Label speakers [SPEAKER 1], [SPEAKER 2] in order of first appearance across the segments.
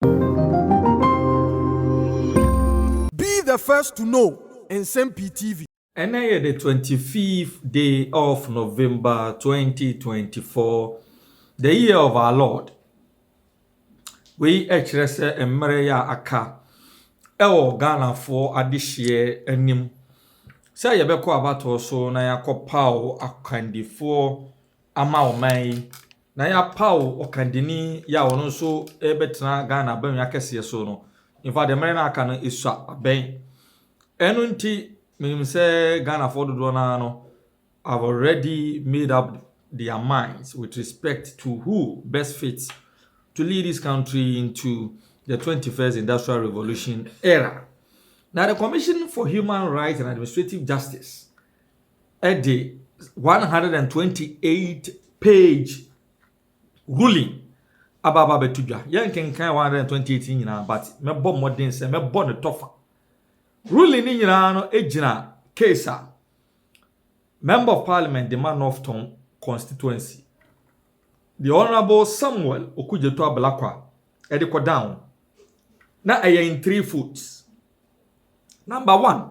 [SPEAKER 1] Be the first to know Nsɛm Pii TV. Ɛnnɛ yɛ the twenty
[SPEAKER 2] fifth day of November twenty twenty four, the year of our Lord. Wei kyerɛ sɛ mmerɛ yɛ a aka ɛwɔ Ghanafoɔ adehyeɛ anim sɛ yɛbɛkɔ abatoɔ so na yɛakɔ paw akwandifoɔ ama ɔman yi Na yɛapaw ɔkandini yi a ɔno nso rebɛtena Ghana Aban Akɛseɛ so no. In fact, mmerɛ no a aka no, ɛsua abɛn. Ɛno nti, menim sɛ Ghanafoɔ dodoɔ no ara no have already made up their minds with respect to who best fits to lead this country into the 21st Industrial Revolution era. Na the Commission for Human Rights and Administrative Justice de one hundred and twenty eight page ruling aba aba abɛto dwa. Yɛnkenkan one hundred and twenty eight nyinaa but mɛbɔ mmɔden sɛ mɛbɔ ne tɔfa. Ruling ne nyinaa no gyina case a Member of Parliament de ma Northton constituency. The Honourable Samuel Okudzeto Ablakwa ɛde kɔ down. Na ɛyɛ in three foots. Number one,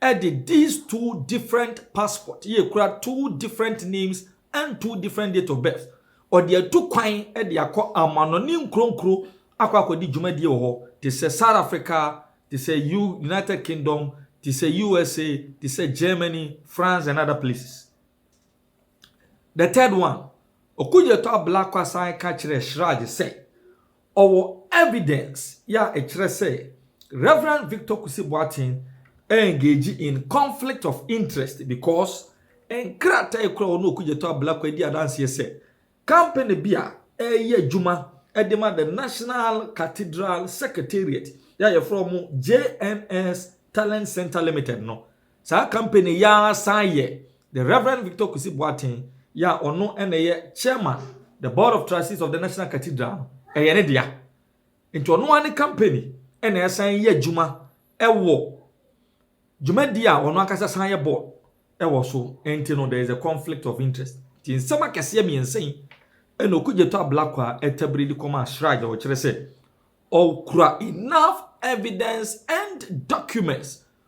[SPEAKER 2] ɛde these two different passport yɛ kura two different names and two different date of birth ɔde atu kwan ɛde akɔ amanɔne nkuro nkuro akɔ akɔdi dwumadie wɔ hɔ te sɛ South Africa te sɛ U United Kingdom te sɛ USA te sɛ Germany France and other places the third one Okudzeto Ablakwa san ka kyerɛɛ Shraj sɛ Ɔwɔ evidence yi a ɛkyerɛ sɛ Rev. Victor Kusi Boateng engage in conflict of interest because nkrataa a ɛkura ɔne Okudzeto Ablakwa di adanseɛ sɛ company bi a ɛreyɛ adwuma de ma the National Cathedral Secretariat yi a wɔfrɛ wɔn JNS Talent Centre Limited no Saa company yi ara san yɛ The Reverend Victor Kwesi Boateng yi a ɔno na ɛyɛ Chairman, the Board of Trustees of the National Cathedral no, ɛyɛ ne dea. Nti ɔno ara ne company na ɛsan yɛ adwuma wɔ dwumadi a ɔno ankasa san yɛ board wɔ so nti no there is a conflict of interest. Nti nsɛm akɛseɛ mmiɛnsa yi na Okudzeto Ablakwa tabiri de kɔmaa Shraj a wɔkyerɛ sɛ ɔkura enough evidence and documents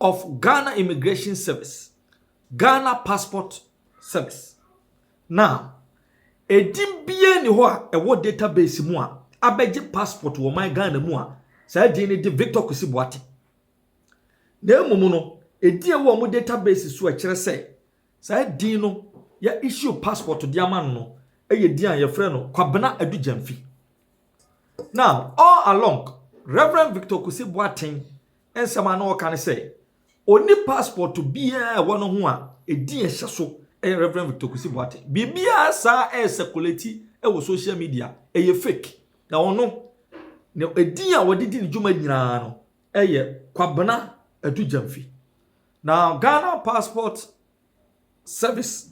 [SPEAKER 2] of Ghana Immigration Service, Ghana Passport Service. Now, edin biara ni hɔ a ɛwɔ database mu a abɛgye passport wɔ man Ghana mu a saa din no de Victor Kwesi Boate. Na mmom no, edin a ɛwɔ wɔn database so a ɛkyerɛ sɛ saa din no yɛ issue passport de ama no no yɛ din a yɛfrɛ no Kwabena Adu Gyamfi. Now, all along, Reverend Victor Kwesi Boateng nsɛm a na ɔka ne sɛ ɔnni passport biara a ɛwɔ ne ho a ɛdin a ɛhyɛ so yɛ Rev. Victor Kwesi Boateng. Biribiara saa ɛresɛkolati wɔ social media, ɛyɛ fake. Na ɔno, ne ɛdin a ɔde di ne dwuma nyinaa no yɛ Kwabena Adu Gyamfi. Na Ghana Passport Service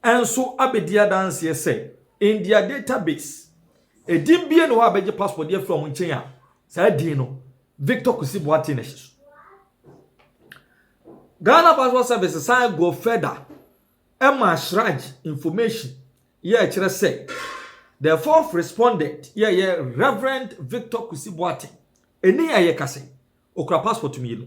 [SPEAKER 2] nso abɛdi adanseɛ sɛ in their database, edin biara nni hɔ a bɛgye passport de afiri wɔn nkyɛn a saa din no Victor Kwesi Boateng na ɛhyɛ so. Ghana Passport Service san go further ɛma Shraj information yɛ ɛkyerɛ sɛ the fourth respondent yɛ ɛyɛ Reverend Victor Kwesi Boateng ɛni a yɛkasa yi okura passport mmienu.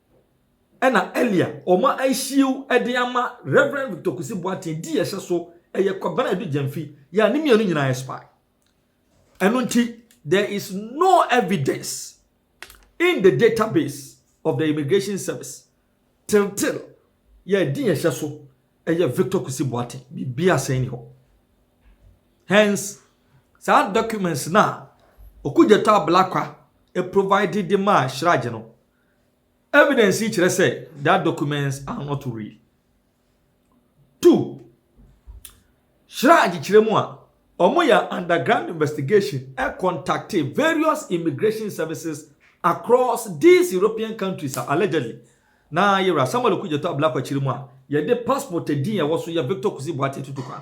[SPEAKER 2] ɛna ɛli a ɔma ɛhyiw ɛde ama Rev. Victor Kusi Boateng di ɛhyɛ so ɛyɛ Kwabena Adu Gyamfi yɛ a ne mmienu nyinaa yɛ spy. Ɛno nti there is no evidence in the database of the Immigration Service till till yɛ di ɛhyɛ so ɛyɛ Victor Kusi Boateng biribi asɛn ni hɔ. Hence saa documents na Okudzeto Ablakwa provided de maa Shraj no Evidence yi kyerɛ sɛ that documents are not real. Two, Hyira agyekyerɛ mu a, wɔyɛ underground investigation contacte various immigration services across these European countries a allegedly na yɛwura Samuel Okudzeto Ablakwa akyiri mu a yɛde passport din a ɛwɔ so yɛ Victor Kusi Boateng tutu kwan.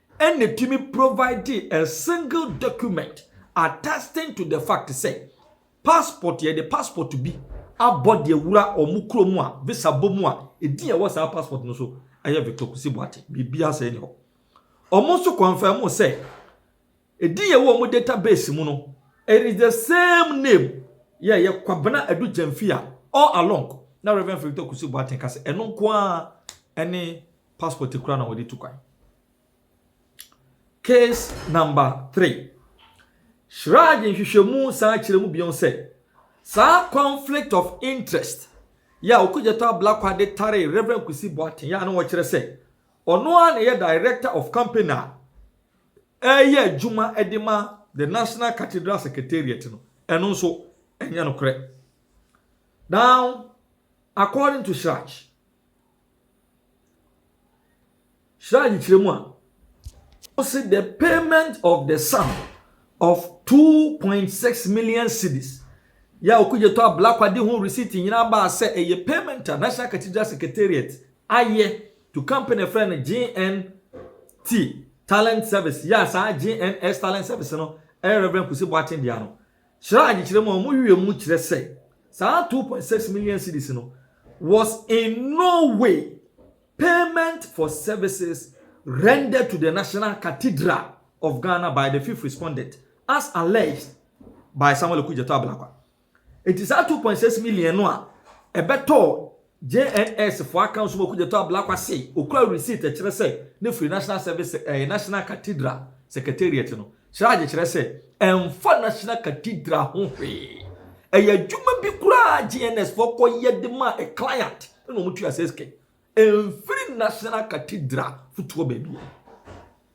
[SPEAKER 2] ɛna tumi providee a single document attesting to the fact sɛ passport yɛde passport bi abɔ deɛ wura wɔn kurom a visa bɔ mu a ɛdin a ɛwɔ saa passport no so ɛyɛ Victor Kusi Boate biribi asɛe ne hɔ wɔn nso confirm sɛ ɛdin a ɛwɔ wɔn database mu no it is the same name yɛ yɛ Kwabena Adu Gyamfi a all along na Reverend Victor Kusi Boate ka sɛ ɛno nko ara ɛne passport kura na wɔde tu kwan. Case number three. Shraj nhwehwɛmu san kyerɛ mu bio sɛ saa conflict of interest yɛ a Okudzeto Ablakwa de taree Reverend Kwesi Boateng yɛ a na wɔkyerɛ sɛ ɔno ara na ɛyɛ director of company a ɛreyɛ adwuma de ma the National Cathedral Secretariat no. Ɛno nso ɛnyɛ nokorɛ. Now, according to Shraj, Hyira nkyerɛmu a ɔse the payment of the sum of 2.6 million cedis yɛ a Okudzeto Ablakwa de ho receipt nyinaa baa sɛ ɛyɛ payment a National Cathedral Secretariat ayɛ to company frɛ no JNT Talent Service yɛ a saa JNS Talent Service no ɛyɛ Reverend Kusi Boateng dea no. Kyerɛ adzekyerɛ mu a wɔn werɛ mu kyerɛ sɛ saa two point six million cedis no was in no way payment for services rendered to the National Cathedral of Ghana by the fifth respondent as alleged by Samuel Okudzeto Ablakwa. Enti saa two point six million no a ɛbɛtɔɔ JNS fo aka nso wɔ Kudjetɔ Ablakwa se okura receipt ɛkyerɛ sɛ ne firi National Service ɛɛ National Cathedral Secretariat no srage kyerɛ sɛ ɛnfa National Cathedral ho hwee. Ɛyɛ adwuma bi koraa a JNS foɔ kɔ yɛ de ma a client ɛna wɔn tua sɛ sika yi ɛnfiri National Cathedral fotoɔ baabiara.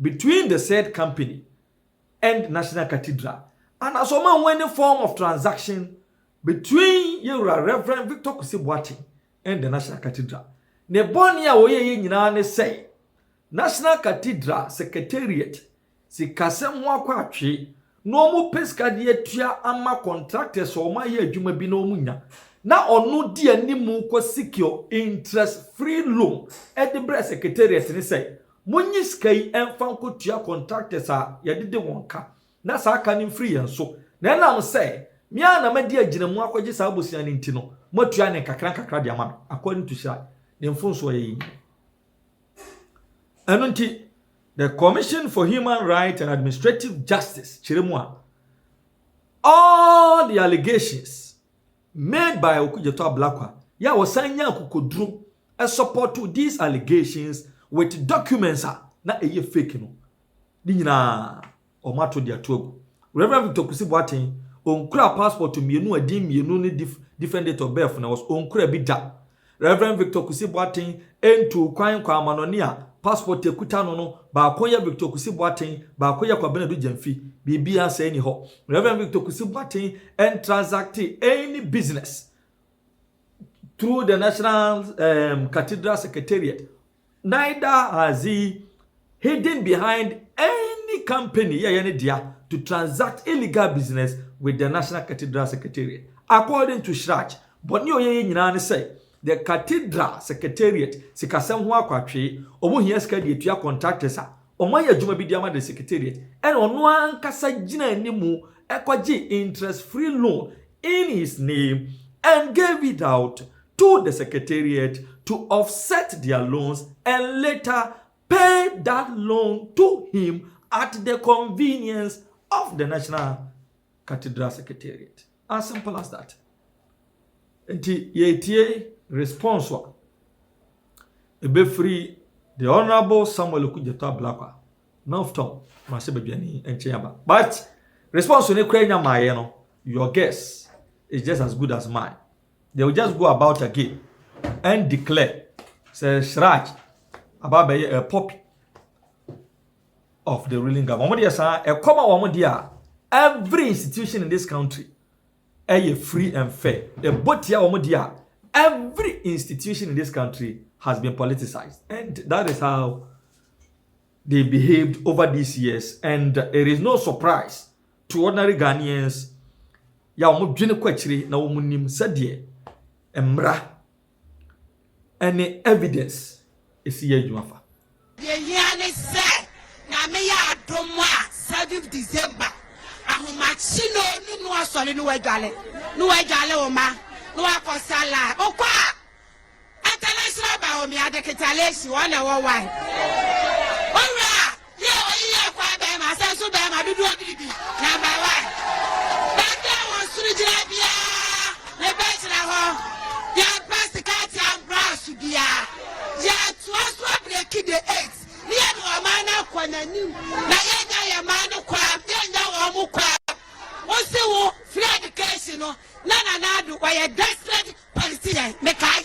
[SPEAKER 2] between the said company and National Cathedral anaasɛ ɔma ho any form of transaction between yɛwura Rev. Victor Kwesi Boateng and the National Cathedral. Ne bɔne a ɔyɛeɛ nyinaa ne sɛ National Cathedral Secretariat sikasɛm ho akɔ atwee na ɔmo pɛ sika de atua ama contractors a ɔmo ayɛ adwuma bi na ɔmo nya, na ɔno di anim kɔ secure interest free loan de brɛ secretariat no sɛ, monyi sika yi mfa nkotua contractors a yɛde de wɔn ka, na saa ka no mfiri yɛn so, na ɛnam sɛ me ara na madi agyinamu akɔgye saa bosea no nti no, moatua no nkakrankakra de ama me, according to Shyira, ne mfomsoɔ yɛ yɛn nyinaa. Ɛno nti, the Commission for Human Rights and Administrative Justice, kyerɛ mu a, all the allegations made by Okudzeto Ablakwa, yɛ a wɔsan nya akokoduru ɛsɔpɔto these allegations with documents a na ɛyɛ fake no, ne nyinaa wɔn ato de ato agu. Rev. Victor Kusi Boateng, ɔnkura passport mmienu a din mmienu ne dif different date of birth na ɛwɔ so, ɔnkura bi da. Rev. Victor Kusi Boateng ntuu kwan nkɔɔ amanɔne a passport a ɛkuta no no baako yɛ Victor Kusi Boateng, baako yɛ Kwabena Adu Gyamfi. Biribiara saa nni hɔ. Rev. Victor Kusi Boateng ntransactee any business through the National, um, Cathedral Secretariat neither has he hidden behind any company yɛyɛ ne dea to transact illegal business with the National Cathedral Secretariat. According to Shrach, bɔne a ɔyɛeɛ nyinaa ne sɛ the Cathedral Secretariat sikasɛm ho akwatwee, wɔhia sika de atua contractors a Wɔayɛ adwuma bi de ama the secretariat ɛna ɔno ankasa gyina anim ɛkɔgye interest free loan in his name and gave it out to the secretariat to offset their loans and later pay that loan to him at the convenience of the National Cathedral Secretariat. As simple as that. Nti yɛretie response a ɛbɛfiri the honourable Samuel Okudzeto Ablakwa Northton Mase Badwani nkyɛn aba. But response ne kura nya maaeɛ no, your guess is just as good as mine. They will just go about again and declare sɛ Siraj aba abɛyɛ a poppy of the ruling government wɔn deɛ saa ɛkɔm a wɔn deɛ a every institution in this country ɛyɛ free and fair ɛbɔ tia wɔn deɛ a every institution in this country has been politicized and that is how they behaved over these years and it is no surprise to ordinary Ghanaians yà wɔn dwene kɔ akyire na wɔn nim sɛdeɛ mmara ɛne evidence ɛsi yɛ adwuma fa. Deɛ ɛhia
[SPEAKER 3] ne sɛ Nyame yɛ adom a seventh December ahomakye no no no asɔre no wadwale no wadwale wo ma no wakɔ sala okɔ a international baomia de ketaleshi wɔn na ɛwɔ wae owura Bi a wɔayi yɛ akoa barima, asɛ nso barima, dodoɔ biribi. Number one, Bɛnkyɛn wɔ nsono gyina biara ne bɛ gyina hɔ. Yɛmpɛ sika atia mbraso biara. Yɛtoa so abreki the eight ne yɛde ɔman no akɔ n'anim na yɛnya yɛn man no kwaa, yɛnya wɔn mo kwaa. Wo se wo free education no na Nana Addo ɔyɛ desperate politician, mekae.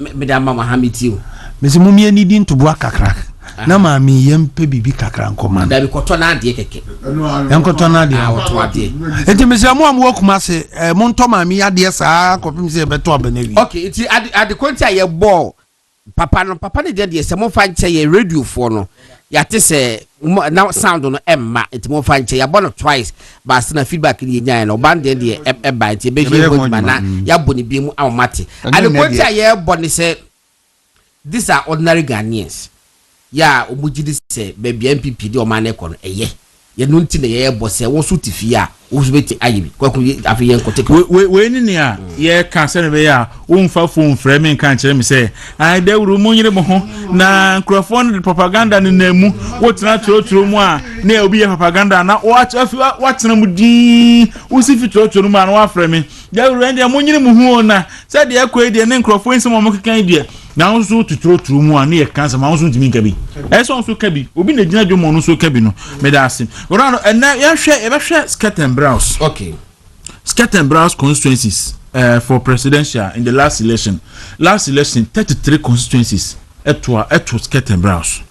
[SPEAKER 4] me mede
[SPEAKER 5] ama mo ha me ti o. mesi mo mmea nidi
[SPEAKER 4] ntoboa kakra na maame yɛ mpɛ biribi kakra nkɔma no. dabi kɔtɔ n'adeɛ
[SPEAKER 5] kɛkɛ. nkɔtɔ
[SPEAKER 4] n'adeɛ. a ɔtɔ adeɛ.
[SPEAKER 5] eti mesrɛ mo a mo
[SPEAKER 4] wɔ kuma se ɛɛ mo ntɔ maame yɛ adeɛ
[SPEAKER 5] saa
[SPEAKER 4] kɔpem
[SPEAKER 5] sɛ
[SPEAKER 4] yɛbɛtɔ abɛnɛ
[SPEAKER 5] wi.
[SPEAKER 4] ok eti
[SPEAKER 5] ade
[SPEAKER 4] ade kɔnti
[SPEAKER 5] a yɛ
[SPEAKER 4] bɔ
[SPEAKER 5] papa no papa ne deɛ deɛ sɛ mo fa nkyɛ yɛ radiofoɔ no. yɛate sɛ na sound no ɛmma nti mo fa nkyɛ yɛabɔ no twice baasa na feedback no yɛnyaeɛ no ɔba no deɛ deɛ ɛba nti ɛbɛhwie ho adwuma na mm. yɛabɔ no bi mu ama mate adekoɔ nti a yɛbɔ ne sɛ these are ordinary Ghanaians yɛ a wɔn gyi di sɛ baabi a npp de wɔn ano kɔ no ɛyɛ Yɛno nti na yɛrebɔ sɛ wo nso te fie a, wo nso bɛti ayɛ bi. Kwaku, afei yɛn kɔ take. Wei wei ne nea
[SPEAKER 4] yɛreka sɛnea ɛbɛyɛ a womfa fon mfrɛ me nka nkyerɛ me sɛ ae dawuru mo nyere mo ho na nkurɔfoɔ no de propaganda ne nan mu wotena twerɛtwerɛ mu a na obi yɛ propaganda na watena mu din wosi fi twerɛtwerɛ no mu a na wafrɛ me Dawuro, ɛndeɛ monyini mo ho o na sɛ deɛ ɛkɔ yi deɛ ne nkurɔfoɔ nsɛm a wɔkeka yi deɛ na wɔn nso tuturoturo mu a ne yɛ ka nsɛm a wɔn nso ntumi nka bi ɛyɛ sɛ wɔn nso ka bi obi na gyina dwom wɔn nso ka bi no meda ase wɔn ano ɛnɛ yɛhwɛ yɛbɛhwɛ skirt and blouse okay
[SPEAKER 5] skirt and
[SPEAKER 4] blouse constituencies uh, for presidential in the last election last election thirty three constituencies ɛtoa ɛto skirt and blouse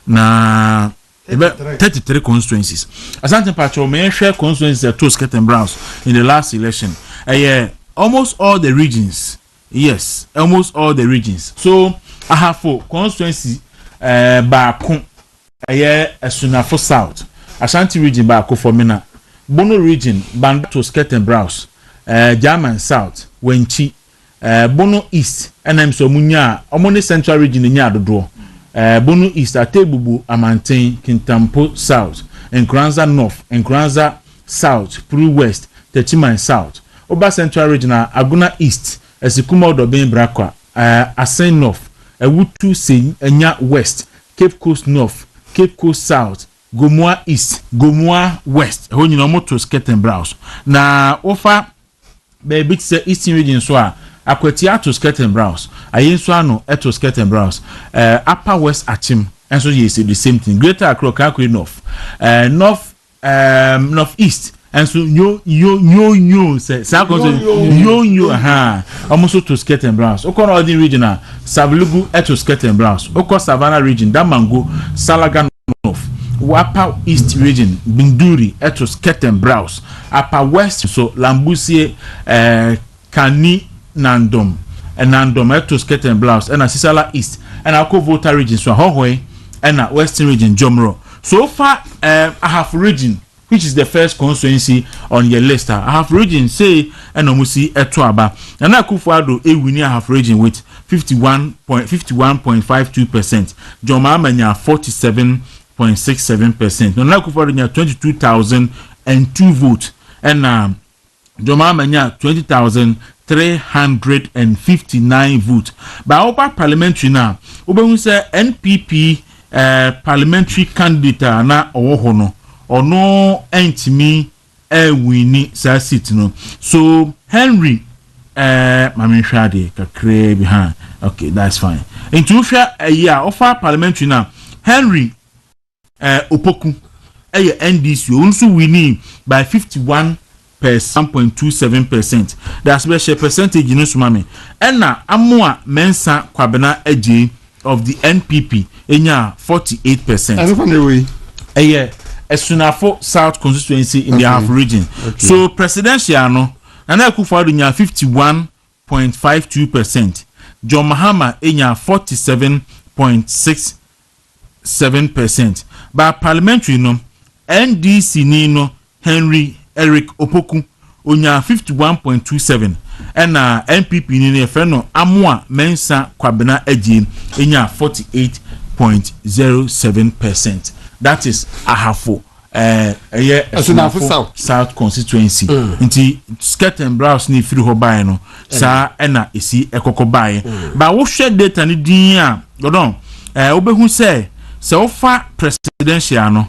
[SPEAKER 4] na. Ɛbɛ thirty three constituencies. Asante mpakyɛw ma yɛnhwɛ constituencies a ɛtoo skirt and browns in the last election. Ɛyɛ almost all the regions. Yes, almost all the regions. So Ahafo constituency eh, baako ɛyɛ Asunafo South, Ashanti region baako Fɔmena, Bono region Banda to skirt and browns, eh, German South, Wankyi, Ɛɛ Bono East na mso ɔmo nyaa, ɔmo ne Central Region na enyaa dodoɔ. Ɛɛ Bono East, Ategbubu, Amanten, Kintampo South, Nkoranza North, Nkoranza South, Puri West, Techiman South. Woba Central Region a, Agona East, Asikuma Odobeng Brakwa, ɛɛ Asen North, Awutu Senya West, Cape Coast North, Cape Coast South, Gomoa East, Gomoa West, ɛhɔ nyinaa ɔmo to Skirting Browse. Na wofa Baabi te sɛ Eastern Region nso a, Akwati ato skirt and brows, Ayie nso ano to skirt and brows, eh, Upper West Akyem nso yɛ the same thing, Greater Accra Okaakure North, eh, North, ehm, North East nso nyo, nyo, nyo, nyo, sɛ saa kɔ nso nyo, nyo, ahaa, wɔn nso to skirt and brows. Okɔ Northern Region a, Savlugu to skirt and brows, okɔ Savannah Region, Damango, Salaga North, Upper East Region, Binduri to skirt and brows. Apa West nso, Lambusie, eh, Kani, Nandom, eh, Nandom, eh, to Skirt and Blouse, ɛna Sisala East, ɛna akɔ Volta Region nso a, Hɔhoe, ɛna Western Region, Jomro. So wofa, eh, Ahafo Region, which is the first constituency on yɛ list a, Ahafo Region sei ɛna ɔmo si ɛto aba. Nana Akufo Addo ɛwini Ahafo Region with fifty one point, fifty one point five two percent, John Mahama nya forty seven Point six seven percent Nana Akufo Addo nya twenty two thousand and two votes ɛna John Mahama nya twenty thousand three hundred and fifty nine votes baa woba parliamentary no a wobɛhu sɛ NPP eh, parliamentary candidate a na ɔwɔ hɔ no ɔno ɛntumi ɛɛwini saa seat no so Henry ɛɛ ma me nhwɛ adeɛ kakraa bi ha okay that's fine nti wohwɛ ɛyi a ɔfa parliamentary na Henry ɛɛ Opoku ɛyɛ NDC o nso wini by fifty one percent point two seven percent daasɛ bɛhyɛ percentage no so ma me ɛna Amoa Mensah Kwabena Adjei of the NPP nyaa forty eight percent. Ɛno kwan na ɛwɔ yi.
[SPEAKER 6] Ɛyɛ
[SPEAKER 4] Asunafo South constituency in the Ahafo region. So presidential no, Nana Akufo-Addo nyaa fifty one point five two percent. John Mahama nyaa forty seven point six seven percent. But parliamentary no, NDC-ni no Henry Eric Opoku, onyaa fifty one point two seven ɛna NPP ni no yɛfrɛ no Amoah Mensah Kwabena Adjei nyaa forty eight point zero seven percent that is Ahafo ɛɛ ɛyɛ Asunafo South Constituency nti skirt and blouse na efiri hɔ baeɛ no saa ɛna esi ɛkɔkɔ baeɛ ba wohwɛ data no din a ɔdɔn ɛɛ wobɛhu sɛ sɛ wofa presidential no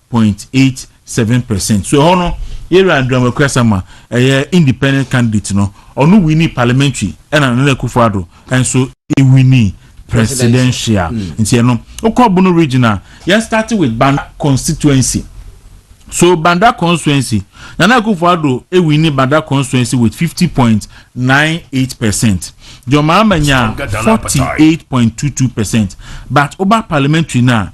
[SPEAKER 4] point eight seven percent. So ɛhɔ no, Yɛwura Andrew Amoako Asamoah, ɛyɛ independent candidate no, ɔno winii parliamentary ɛna Nana Akufo Addo nso winii presidential. Nti ɛno, wokɔ Bono region a, yɛn start with Banda constituency. So Banda constituency, Nana Akufo Addo winii Banda constituency with fifty point nine eight percent. John Mahama nyaa forty eight point two two percent. But woba parliamentary no a,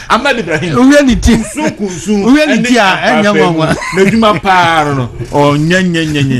[SPEAKER 6] Ahmed Ibrahim wohwɛ
[SPEAKER 4] ne ti kunsun
[SPEAKER 6] kunsun wohwɛ ne
[SPEAKER 4] ti
[SPEAKER 6] a
[SPEAKER 4] ɛnyɛ nwanwa n'adwuma paa no
[SPEAKER 6] no
[SPEAKER 4] ɔnyɛ
[SPEAKER 6] nyɛ
[SPEAKER 4] nyɛ nyɛ.